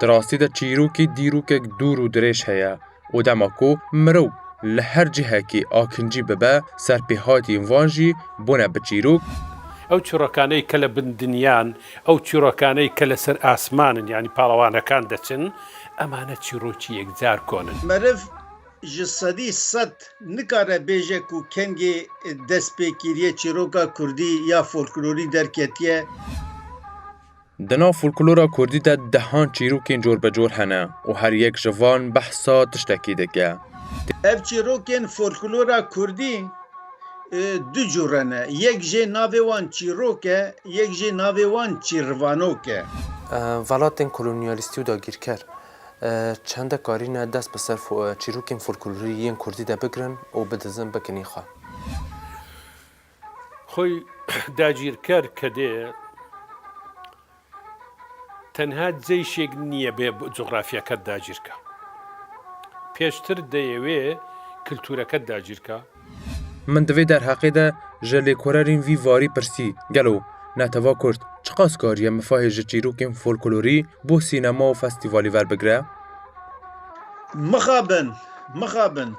Di rastî de çîrokî dîrokek dûr û dirêj heye û dema ku mirov li her cihekî akincî bibe, serpêhatiyên van jî bûne bi çîrok, Ew çîrokaneyê ke li bin dinyan Ew çîrokaney ke li ser asman in yanî palawanekan deçin, emane çîrokî yekcar kon in. Meriv ji sedî sed nikare bêje ku kengê destpêkiriyê çîroka kurdî ya folklorî derketiye. Di nav folklora kurdî de dehan çîrokên corbecor hene û her yek ji van behsa tiştekî dike. Ev çîrokên folklora kurdî. du cû re ne. Yek jê navê wan çîrok e, yek jê navê wan çîrvanok e. Welatên kolonyalîstî û dagîrker çende karî ne dest bi ser çîrokên folklorî yên kurdî de bigirin û bidizin bikin î xwe. Xwey dagîrker kedê Tenha ceyşêk nîye bê cografyeke dagîrka. Pêştir deyê wê kultureke dagîrka. Min di vê derheqê de ji lêkorerîn vî varî pirsî, gelo neteva kurd çiqas kariye mifahê ji çîrokên folklorî bo sînema û festîvalî werbigire? Mixabin, mixabin,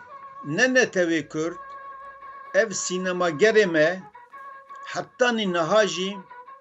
ne netewê kurd, ev sînemagerê me, hetanî niha jî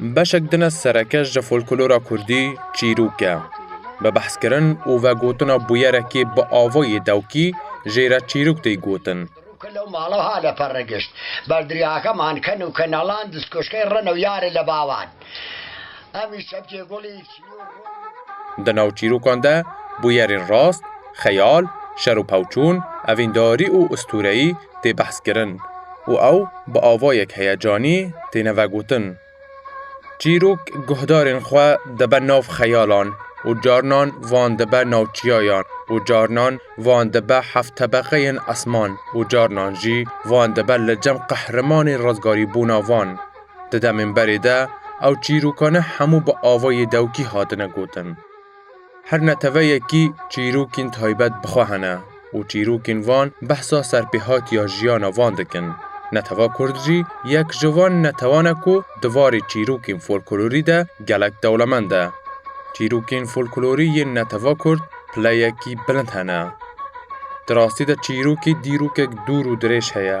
Beşek din e sereke ji folklora kurdî çîrok e. Bi behskirin û vegotina bûyerekê bi avayê dewkî jê re çîrok tê gotin. Kilo mala ha le perre gişt. Berdiri haka man kenu kenalan diz koşkey reno yare le bavan. Em î şebkê goli. Di nav çîrokan de bûyerên rast, xeyal, şer û pawçûn, evîndarî û ustûreyî tê behskirin û ew bi avayek heyecanî têne vegotin. Çîrok guhdarên xwe dibe nav xeyalan û carinan van dibe nav çiyayan û carinan van dibe hevtebeqeyên esman û carinan jî van dibe li cem qehremanên rizgarîbûna van. Di demên berê de ew çîrokane hemû bi avayê dewkî hatine gotin. Her neteweyekî çîrokên taybet bi xwe hene û çîrokên van behsa serpêhatiya jiyana van dikin. Netewa Kurd jî yek ji van netewan e ku di varê çîrokên folklorî de gelek dewlemend e. Çîrokên folklorî yên netewa Kurd pileyekî bilind hene. Di rastî de çîrokê dîrokek dûr û dirêj heye.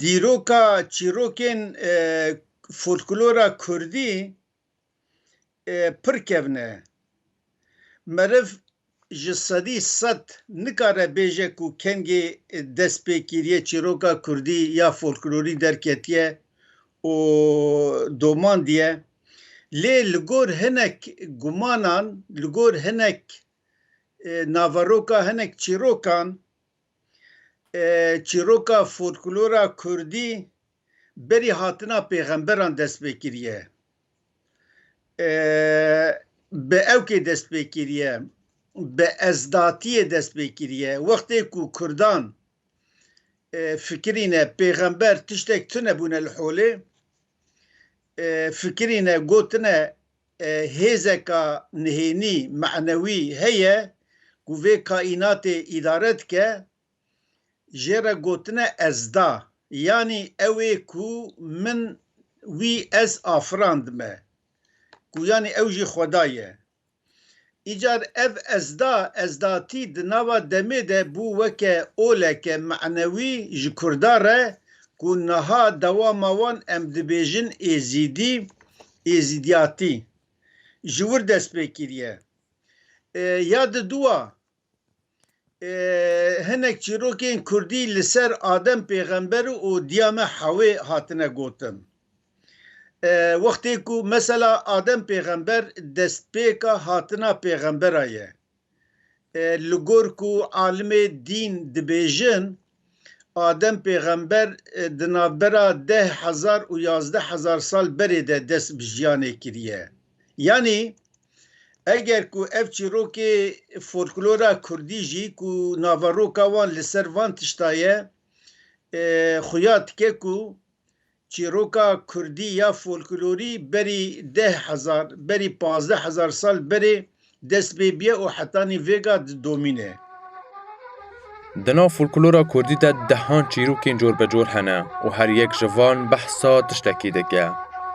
dîroka çîrokên folklora kurdî pir kevne. Meriv ji sedî sed nikare bêje ku kengê destpêkiriyê çîroka kurdî ya folklorî derketiye û domandiye. Lê li gor hinek gumanan, li gor hinek naveroka hinek çîrokan, Çîroka folklora Kurdî berî hatina pêxemberan dest pê kiriye. Bi ewkê dest pê kiriye, bi ezdatiyê dest pê kiriye. Wextê ku Kurdan fikirîne pêxember tiştek tune bûne li holê, fikirîne gotine Hêzeka nihênî, manewî, heye ku vê kaînatê îdare dike, jê re gotine ezda, yanî ew ê ku min, wî, ez afirandime, ku yanî ew jî xweda ye. Îcar ev ezda, ezdatî di nava demê de bû weke oleke manewî ji Kurdan re ku niha dewama wan em dibêjin Êzîdî, Êzîdiyatî ji wir dest pê kiriye. Ya di dûa hinek çîrokên Kurdî li ser Adem pêxember û Diyame Hewê hatine gotin. Wextê ku mesela Adem pêxember destpêka hatina pêxembera ye. Li gor ku alimê dîn dibêjin Adem pêxember di navbera deh hezar û yazdeh hezar sal berê de dest bi jiyanê kiriye. Yanî eger ku ev çîrokê folklora kurdî jî ku naveroka wan li ser van tişta ye xuya dike ku Çîroka kurdî ya folklorî berî deh hezar, berî pazdeh hezar sal berê dest pê bîye û hetanî vêga di domîn e. Di nav folklora kurdî de dehan çîrokên corbecor hene û her yek ji van behsa tiştekî dike.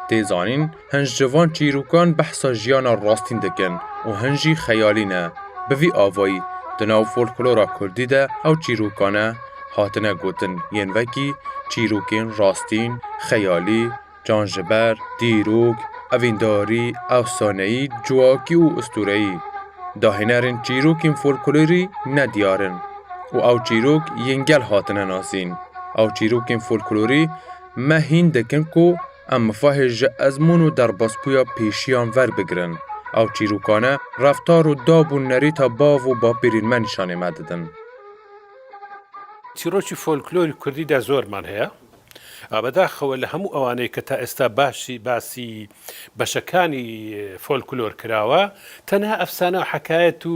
Tê zanîn, Hin ji van çîrokan behsa jiyana rastîn dikin û hin jî xeyalî ne. Bi vî avayî di nav folklora kurdî de ew çîrokane hatine gotin yên wekî çîrokên rastîn, xeyalî, canjiber, dîrok, evîndarî, efsaneyî, civakî û ustureyî. Dahênerên çîrokên folklorî ne diyar in û ew çîrok yên gel hatine nasîn. Ew çîrokên folklorî me hîn dikin ku Em mifahê ji ezmûn û derbasbûya pêşiyan verbigirin. Ew çîrokane reftar û dab û nerêta bav û bapêrên me nîşanê me didin. Çîrokî folklorî kurdî de zor man heye. A bedaxewe li hemû ewanê ke ta êsta basî basî beşekanî folklor kirawe, tenha efsane û hekayet û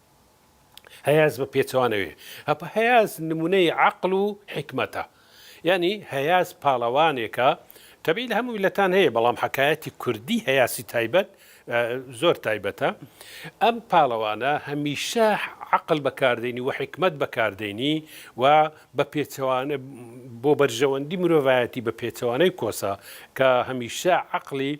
Heye ez bi pêçewane wê. Hapa heye ez nimûneyê eql û hîkmet e. Yanî heye ez palewanêk e. Tebî li hemû miletan heye belam hekayetî kurdî heyasî taybet zor taybet e. Em palewane hemîşe eql bekar deynî û hîkmet bekar deynî û bi pêçewane bo berjewendî mirovayetî bi pêçewaneyê kosa ke hemîşe eqlî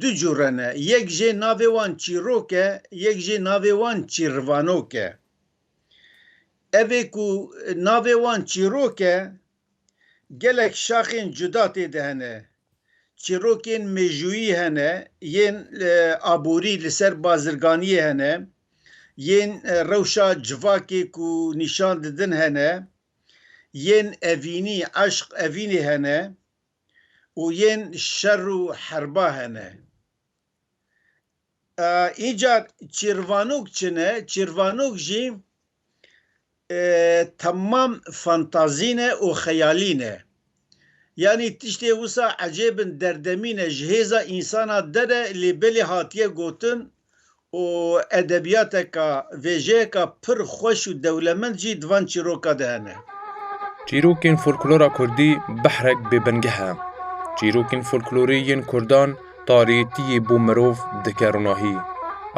du cû re ne. Yek jê navê wan çîrok e, yek jê navê wan çîrvanok e. Evê ku navê wan çîrok e, gelek şaxên cuda tê de hene. Çîrokên mêjûyî hene, yên aborî li ser bazirganiyê hene, yên rewşa civakê ku nîşan didin hene, yên evînî, eşq, evînê hene. û yên şer û herba hene. Înca çîrvanok çi ne? Çîrvanok jî temam fantazî ne û xeyalî ne. Yanî tiştê wisa ecêbin derdemîne ji hêza însana dere lê belê hatiye gotin û edebiyateka vêjeyeka pir xweş û dewlemend jî di van çîroka de hene. Çîrokên folklora kurdî behrek bêbingeh e. Çîrokên folklorî yên kurdan tariyêtiyê bo mirov dike rinahî.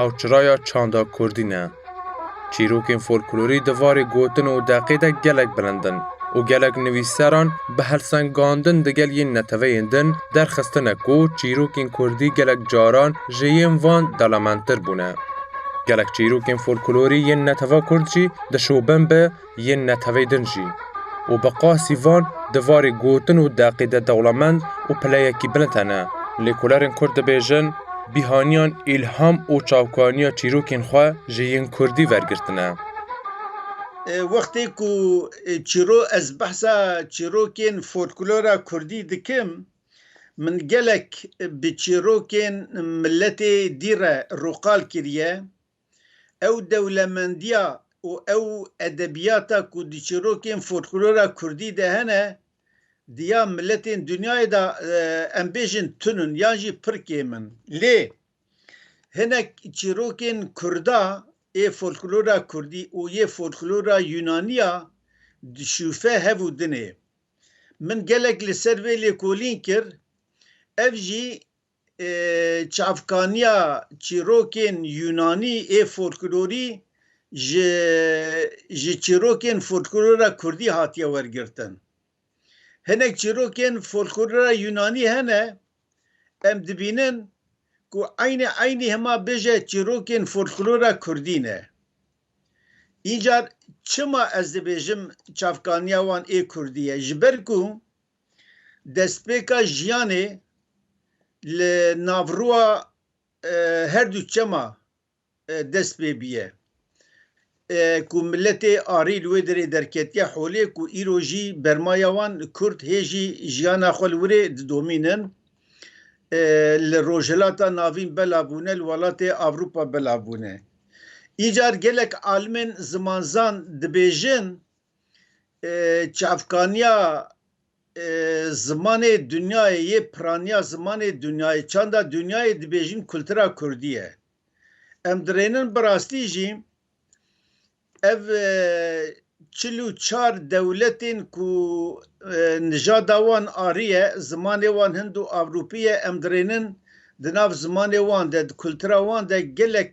Ew çiraya çanda kurdî ne. Çîrokên folklorî di varê gotin û deqê de gelek bilind in û gelek nivîsseran bi helsengandin digel yên neteweyên din derxistine ku çîrokên kurdî gelek caran ji yên van dalamenttir bûne. Gelek çîrokên folklorî yên netewa kurd jî dişobin bi yên netewê din jî. û bi qasî van di varê gotin û deqê de dewlemend û pileyekî bilind hene. Lêkolerên Kurd dibêjin, bîhaniyan îlham û çavkaniya çîrokên xwe ji yên Kurdî wergirtine. Wextê ku çîro ez behsa çîrokên folklora Kurdî dikim, min gelek bi çîrokên miletê dî re rûqal kiriye, Ew dewlemendiya û ew edebiyata ku di çîrokên folklora kurdî de hene, di ya miletên dinyayê de em bêjin tun in yan jî pir kêm in. Lê hinek çîrokên kurda ê folklora kurdî û yê folklora yunaniya dişûfe hev û dinê. Min gelek li ser vê lêkolîn kir, ev jî Çavkaniya çîrokên Yûnanî ê folklorî ji ji çîrokên folklora Kurdî hatiye wergirtin. Hinek çîrokên folklora Yûnanî hene em dibînin ku eynî eynî hima bêje çîrokên folklora Kurdî ne. Încar çima ez dibêjim çavkaniya wan ê Kurdî ye? Ji ber ku Destpêka jiyanê li navroa her du çema dest pê biye ku miletê arî li wê derê derketiye holê ku îro jî bermaya wan kurd hê jî jiyana xwe li wirê didomînin. Li rojhilata navîn belav bûne li welatê avropa belav bûne. Îcar gelek alimên zimanzan dibêjin Çavkaniya zimanê dunyayê yê piraniya zimanê dunyayê çanda dunyayê dibêjin kultura kurdî ye. Em dirênin bi rastî jî ev çil û çar dewletên ku nijada wan arî ye, zimanê wan hind û ewropî ye, em dirênin di nav zimanê wan de, di kultura wan de gelek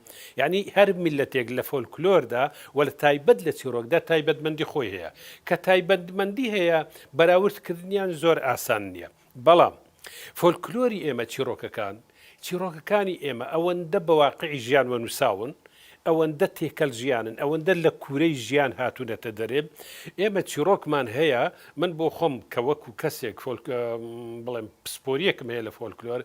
Yanî her mîletêk li folklor de we li taybet li çîrok de taybetmendî xwe heye. Ke taybetmendî heye berawird kirdiniyan zor asan niye. Belam folklorî ême çîrokekan, çîrokekanî ême ewende bi waqî jiyan we nusawin, ewende têkel jiyan in, ewende li kûrey jiyan hatunete derê. Ême çîrokman heye, min bo xwe ke weku kesêk folk bilem pisporiyek heye li folklor,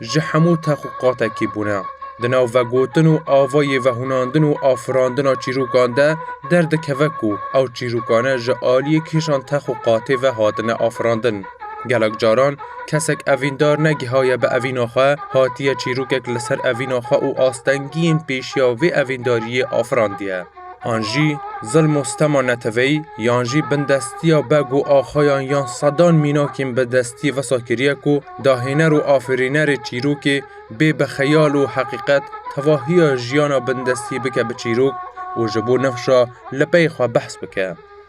ji hemû tex û qatekî bûne. Di nav vegotin û avayê vehûnandin û afirandina çîrokan de derdikeve ku ew çîrokane ji aliyê kêşan tex û qatê ve hatine afirandin. Gelek caran kesek evîndar negihaye bi evîna xwe, hatiye çîrokek li ser evîna xwe û astengiyên pêşiya vê evîndariyê afirandiye. An jî zilm û stema neteweyî yan jî bindestiya beg û axayan yan sedan mînakên bi destî wisa kiriye ku dahêner û afirînerê çîrokê bê bi xeyal û heqîqet tevahiya jiyana bindestî bike bi çîrok û ji bo nifşa li pey xwe behs bike.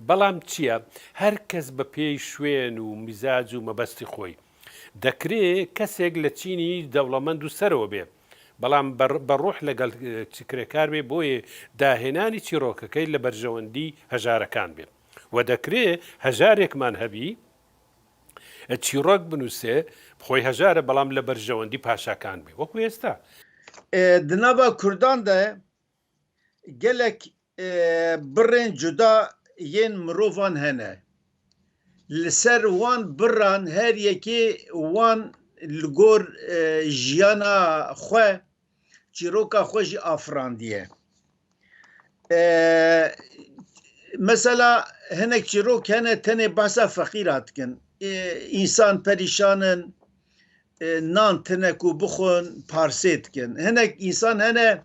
Belam çiye her kes bi pêy şwên û mîzac û mebestî xwe yî. Dekrê kesek li çînî dewlemend û sero bê belam bi ruh legel çikirekar bê boyê dahênanî çîrokekê li berjewendî hejarekan bê. We dekrê hejarekman hebî çîrok binûse bi xwe hejar e belam li berjewendî paşakan bê wek wê esta. Di nava kurdan de Gelek birên cuda yên mirovan hene. Li ser wan biran her yekê wan li gor jiyana xwe çîroka xwe jî afirandiye. Mesela hinek çîrok hene tenê behsa feqîra dikin. Însan perîşan in, nan tine ku bixwin parsê dikin. Hinek însan hene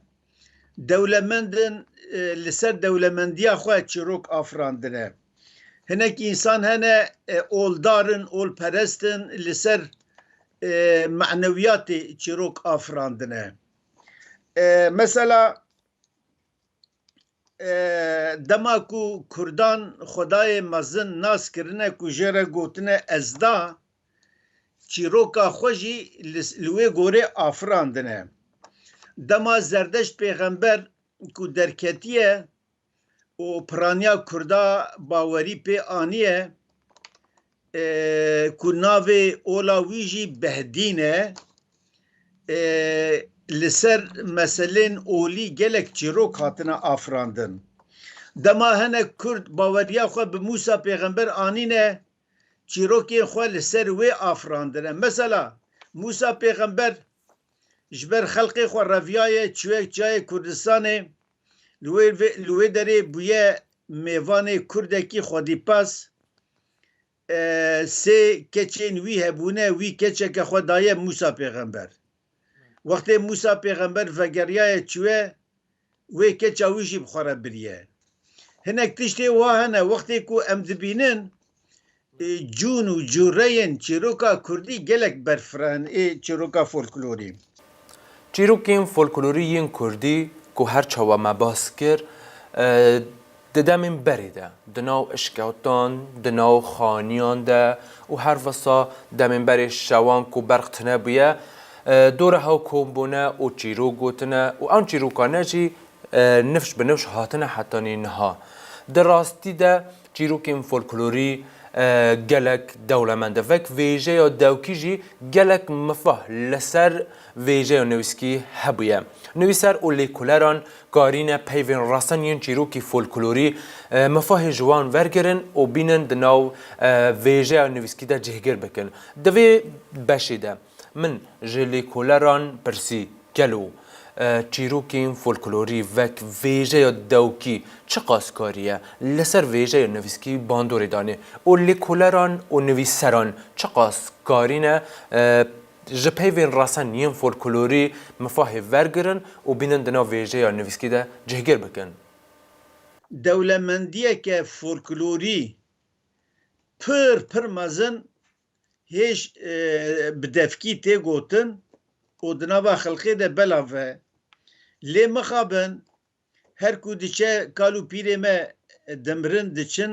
Dewlemendin li ser dewlemendiya xwe çîrok afirandine. Hinek însan hene oldar in, olperest in, li ser manewiyatê çîrok afirandine. Mesela Dema ku Kurdan xwedayê mezin nas kirine ku jê re gotine Ezda, çîroka xwe jî li wê gorê afirandine. Dema Zerdeşt pêxember ku derketiye û piraniya Kurda bawerî pê aniye, ku navê ola wî jî Behdîn e li ser meselên olî gelek çîrok hatine afirandin. Dema hinek Kurd baweriya xwe bi Mûsa pêxember anîne çîrokên xwe li ser wê afirandine. Mesela Mûsa pêxember ji ber xelkê xwe reviyaye çûye çayê Kurdistanê Li wê derê bûye mêvanê kurdekî xwedîpas. Sê keçên wî hebûne, wî keçeke xwe daye Mûsa pêxember. Wextê Mûsa pêxember vegeriyaye çûye, wê keça wî jî bi xwe re biriye. Hinek tiştê wa hene wextê ku em dibînin, cûn û cûreyên çîroka kurdî gelek berfiran ê çîroka folklorî. Çîrokên folklorî yên kurdî ku her çawa me bas kir di demên berê de di nav işketan, di nav xaniyan de û her wisa demên berê şewan ku berq tune bûye dora hew kom bûne û çîrok gotine û ew çîrokane jî nifş bi nifş hatine heta nî niha. Di rastî de. Çîrokên folklorî gelek dewlemend e. Vek vêjeya dewkî jî gelek mifah li ser vêjeya nivîskî hebûye. Nivîser û lêkoleran karîne peyvên rastan yên çîrokî folklorî mifahê ji wan wergirin û bînin di nav vêjeya nivîskî de cihgir bikin. Di vê beşê de Min ji lêkoleran pirsî, Gelo çîrokên folklorî wek vêjeya dewkî çiqas karî ye? Li ser vêjeya nivîskî bandorê danê û lêkoleran û nivîsseran çiqas karî ne ji peyvên resen yên folklorî mifahê wergirin û bînin di nav vêjeya nivîskî de cihgir bikin? Dewlemendiyeke folklorî pir pir mezin hêj bi devkî tê gotin û di nava xelkê de belav e. Lê mixabin her ku diçe kal û pîrê me dimirin diçin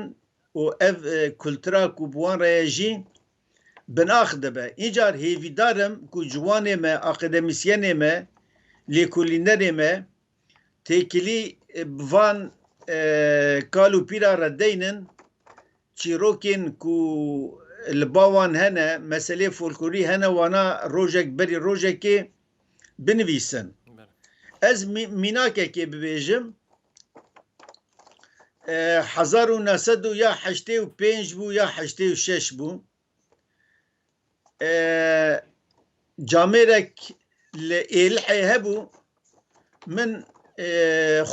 û ev kultura ku bi wan re ye jî binax dibe. Încar hêvîdar im ku ciwanê me, akademîsyenê me, lêkolînerê me Têkilî bi van kal û pîra re deynin çîrokên ku li ba wan hene, meseleyê folklorî hene wana rojek berî rojekê binivîsin. Ez mînakekê bibêjim hezar û neh sed û ya heştê û pênc bû ya heştê û şeş bû. camêrek li Êlihê hebû min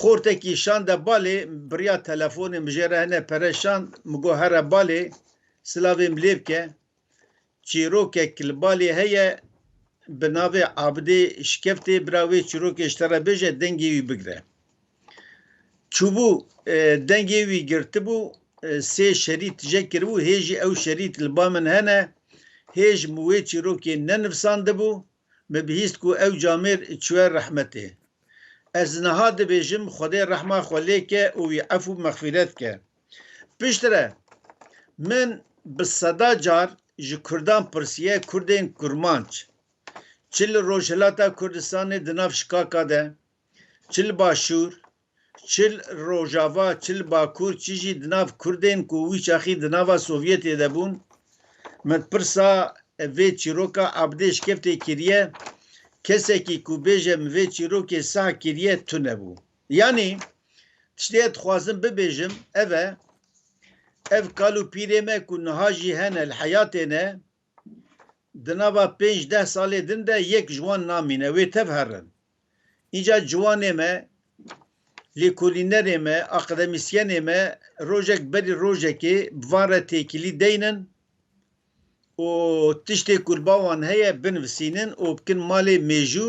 xortekî şande balê biriya telefonê min jê re hene pere şand min got here balê silavê min lê bike çîrokek li balê heye bi navê Abidê şikeftê bira wê çîrokê ji te re bêje dengê wî bigire. Çûbû dengê wî girtibû sê şerî tije kiribû hê jî ew şerî li ba min hene hê ji min wê çîrokê nenivsandibû min bihîst ku ew camêr çûye rehmetê ez niha dibêjim xwedê rehma xwe lê ke û wî efû mexfîret ke piştre min bi seda car ji kurdan pirsiye kurdên kurmanc çi li rojhilata kurdistanê di nav şikaka de çi li Başûr, çi li Rojava, çi li Bakur, çi jî di nav Kurdên ku wî çaxî di nava Sovyetê de bûn, min pirsa vê çîroka abdê şikeftê kiriye, kesekî ku bêje min vê çîrokê sah kiriye tune bû. Yanî tiştê ez dixwazim bibêjim ev e, ev kal û pîrê me ku niha jî hene li heyatê ne, Di nava pênc deh salê din de yek ji wan namîne, wê tev herin. Înca ciwanê me, lêkolînerê me, akademîsyenê me rojek berî rojekê bi van re têkilî deynin û tiştê ku li ba wan heye binivisînin û bikin malê mêjû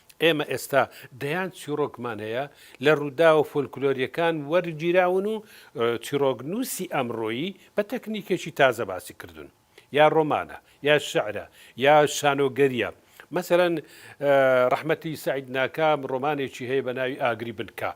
Ême êsta deyan çîrokman heye li rûdawa folklorîyekan wergîrawin û çîroknûsî emroyî bi teknîkekî taze basî kirdin. Ya roman e, ya şiir e, ya şanogerî ye. Meselen Rehmetî Seîd Nakam romanekî heye bi navî Agirî Binka.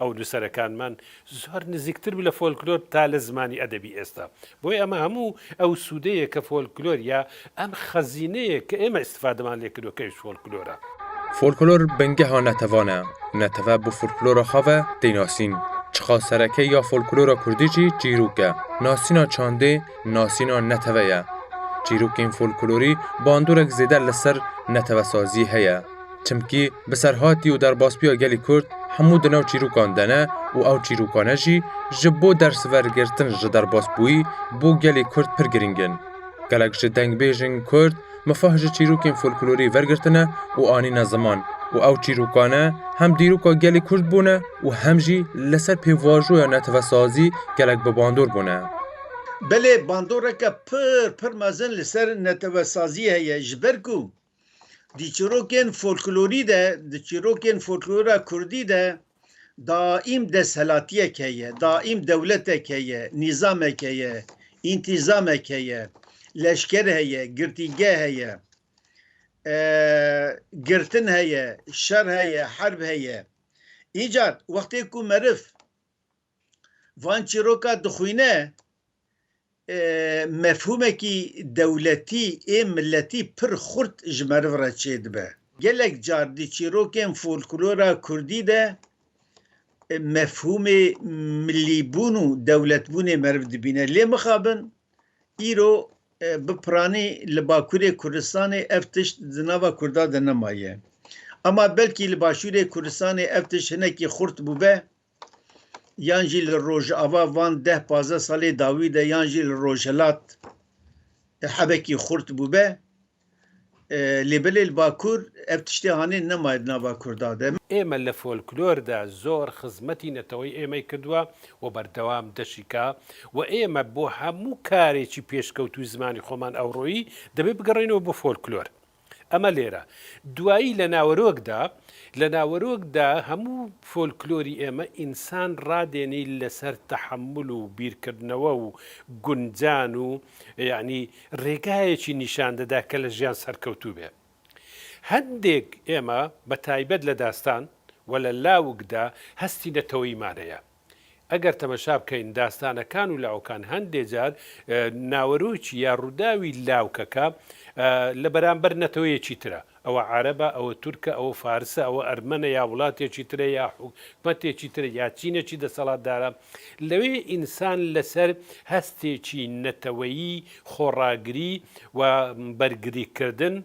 Ew nûserekan man zor nizîktir bû li folklor ta li zimanî edebî êsta. Boye ema hemû ew sûdê ye ke folklor ya em xezîneyê ke ême îstifademan lê kiro ke ji folklor e. Folklor bingeha netevan e û neteve bi folklora xwe ve tê nasîn. Çiqa sereke ya folklora kurdî jî çîrok e. Nasîna çandê nasîna neteve ye. Çîrokên folklorî bandorek zêde li ser netevesazî heye. Çimkî bi serhatî û derbasbûya gelê Kurd hemû di nav çîrokan de ne û ew çîrokane jî ji bo dersvergirtin ji derbasbûyî bo gelê Kurd pir girîng in. Gelek ji dengbêjên Kurd mifah ji çîrokên folklorî vergirtine û anîne ziman û ew çîrokane hem dîroka gelê Kurd bûne û hem jî li ser pêvajoya netewesazî gelek bi bandor bûne. Belê bandoreke pir pir mezin li ser netewesazî heye ji ber ku Di çîrokên folklorî de, di çîrokên folklora kurdî de daîm desthilatiyek heye, daîm dewletek heye, nîzamek heye, întizamek heye, leşker heye, girtîgeh heye, girtin heye, şer heye, herb heye. Îcar wextê ku meriv van çîroka dixwîne, mefhûmekî dewletî ê miletî pir xurt ji meriv re çêdibe. Gelek car di çîrokên folklora kurdî de mefhûmê milîbûn û dewletbûnê meriv dibîne. Lê mixabin îro bi piranî li bakurê Kurdistanê ev tişt di nava kurda de nemaye. Ema belkî li başûrê Kurdistanê ev tişt hinekî xurt bûbe Yan jî li rojava van deh pazdeh salê dawî de yan jî li rojhilat hebekî xurt bûbe. Lê belê li Bakur ev tiştê hanê nemaye di nava Kurda de. Ême li folklor de zor xizmetî neteweyê êmey kirduwe û berdewam deşika û ême bo hemû karêkî pêşkewtû zimanî xoman ewroyî dibê bigerîne bo folklor. Ema lêra duayî li nawerok de, li nawerok de hemû folklorî ême însan radênî li ser tehemul û bîrkirnewe û guncan û yanî rêgayekî nîşan dide ke li jiyan serkewtû be. Hindêk ême be taybet li destan we li lawik de hestî neteweyî mane ye. Eger temeşa bikein dastanekan û lawikan hendê car naweroç ya rûdawî lawikeka li beramber neteweyekî tir e. Ewe ereb e, ewe turk e, ewe faris e, ewe ermen e ya wilatekî tir e ya hikûmetekî tir e ya çînekî desthilatdar e. Lewê însan li ser hestekî neteweyî xwe ragirî û bergirîkirdin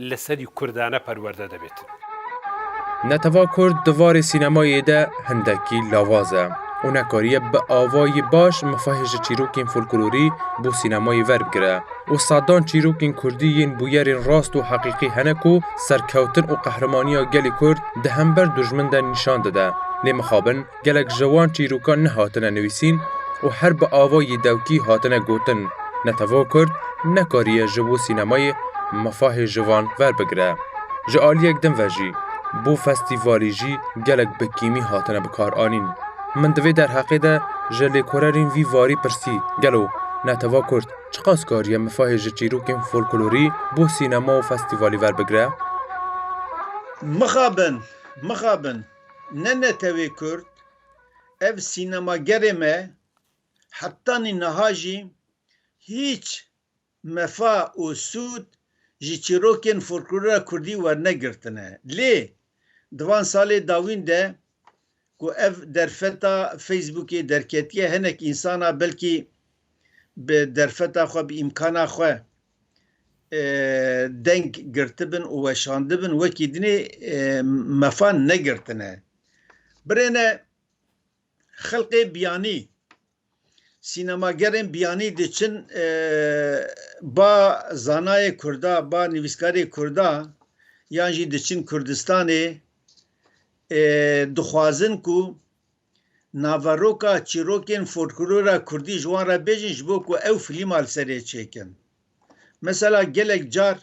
li serî kurdane perwerde debêtin. Netew'a kurd di varê sînemayê de hindekî lawaz e û nekariye bi avayî baş mifahê ji çîrokên folklorî bo sînemayê verbigire û sedan çîrokên kurdî yên bûyerên rast û heqîqî hene ku serkewtin û qehremanîya gelê kurd di hember dûjmin de nîşan dide lê mixabin Gelek ji wan çîrokan nehatine nivîsîn û her bi avayî dewkî hatine gotin, ne tevok kurd nekariye ji bo sînemayê mafahê ji van verbigire. Ji aliyek din ve jî bo festîvalî jî gelek bi kîmî hatine bikaranîn. Min di vê derheqê de ji lêkorerên vî varî pirsî gelo ne teva kurd çiqas kariye mifahê ji çîrokên folklorî bo sînema û festîvalî verbigire? Mixabin, mixabin. Ne netewê kurd, ev sînemagerê me hetanî niha jî hîç mefa û sûd ji çîrokên folklora kurdî wernegirtine. Lê di van salê dawîn de ku ev derfeta Facebookê derketiye hinek însanan belkî bi derfeta xwe, bi îmkana xwe, deng girtibin û weşandibin wekî dinê mefan negirtine. Birêne xelqê biyanî sînemagerên biyanî diçin ba zanayê Kurda ba nivîskarê Kurda yan jî diçin Kurdistanê dixwazin ku Naveroka çîrokên folklora kurdî ji wan re bêjin ji bo ku ew filîma li serê çêkin. Mesela gelek car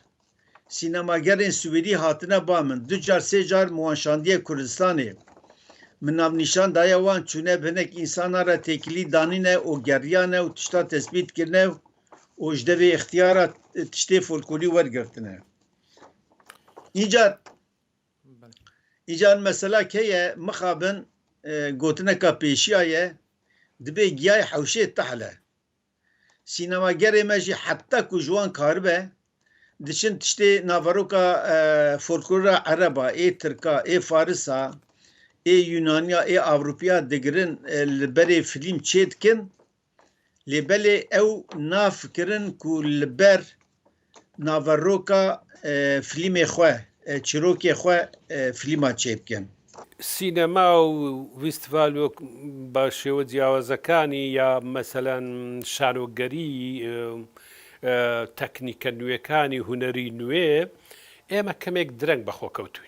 sînemagerên swêdî hatine ba min, du car sê car min wan şandiye Kurdistanê. Min navnîşan daye wan çûne bi hinek însanan re têkilî danîne û geriyane û tiştan tespît kirine û ji devê îxtiyara tiştê folkolî wergirtine. Încar. Îcar mesela kê ye, mixabin gotineka pêşiya ye, dibê giyayê hewşê tehle. Sînemagerê me jî heta ku ji wan karibe, diçin tiştê naveroka folklora ereb a, ê tirk a, ê faris a, ê yunaniya, ê ewropî a digirin li berê filîm çêdikin Lê belê ew nafikirin ku li ber naveroka filîmê xwe, çirokê xwe filîma çêbikin. Sînema û fîstîval wek bi şêwe ciyawazekanî ya meselen şanogerî, teknîke nûyekanî, hunerî nûyê, ê me kemêk direng bi xwe kewtûn.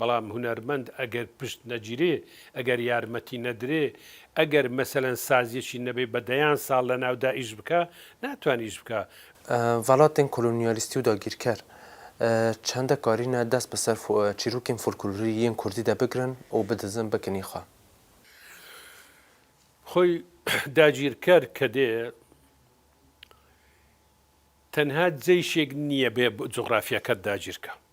Belam hunermend eger pişt necîrê, eger yarmetî nedirê, eger meselen saziyekî nebê be deyan sal li nav de îş bike, natwan îş bike. Welatên kolonyalîstî û dagîrker çende karîne dest bi ser çîrokên folklorî yên kurdî de bigirin û bidizin bikin î xwe. Xwe dagîrker kedê tenha ceyşêk nîye bê coxrafyeke dagîrke.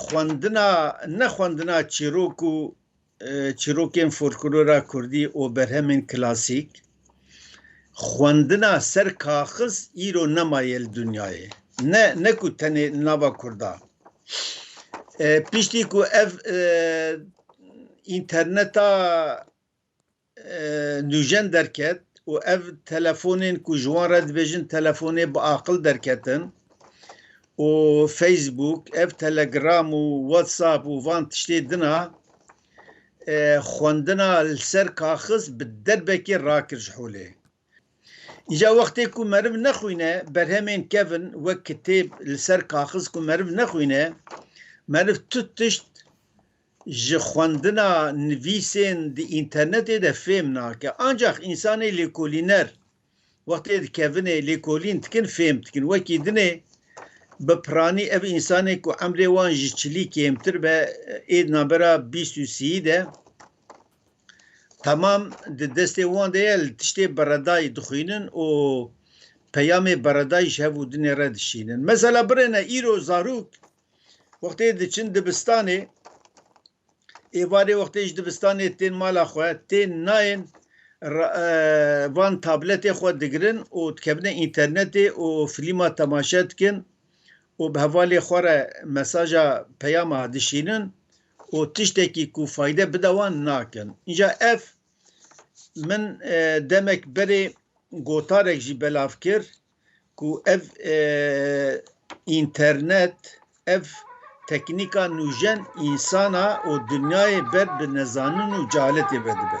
xwendina ne xwendina çîrok û çîrokên folklora Kurdî û berhemên klasîk xwendina ser kaxiz îro nemaye li dinyayê. Ne ne ku tenê nava Kurda. Piştî ku ev interneta nûjen derket û ev telefonên ku ji wan re dibêjin telefonê bi aqil derketin û Facebook ev Telegram û WhatsApp û van tiştê dina e, xwendina li ser kaxiz bi derbekê rakir ji holê. Îca wextê ku meriv nexwîne berhemên kevin wek kitêb li ser kaxiz ku meriv nexwîne meriv tu tişt Ji xwendina nivîsên di înternetê de fêm nake. Ancax însanê lêkolîner wextê dikevinê lêkolîn dikin fêm dikin. Wekî dinê bi piranî ev însanê ku emrê wan ji çilî kêmtir be ê di navbera bîst û sîyî de temam di destê wan de ye li tiştê beredayî dixwînin û peyamê beredayî ji hev û dinê re dişînin. Mesela birêne îro zarok Wextê diçin dibistanê, êvarê wextê ji dibistanê tên mala xwe, tên nayên van tabletê xwe digirin û dikevine înternetê û filîma temaşe dikin û bi hevalê xwe re mesaja peyama dişînin û tiştekî ku fayde bide wan nakin. Înca ev min demek berê gotarek jî belav kir ku ev înternet, ev teknîka nûjen însana û dinyayê ber bi nezanin û cehaletê ve dibe.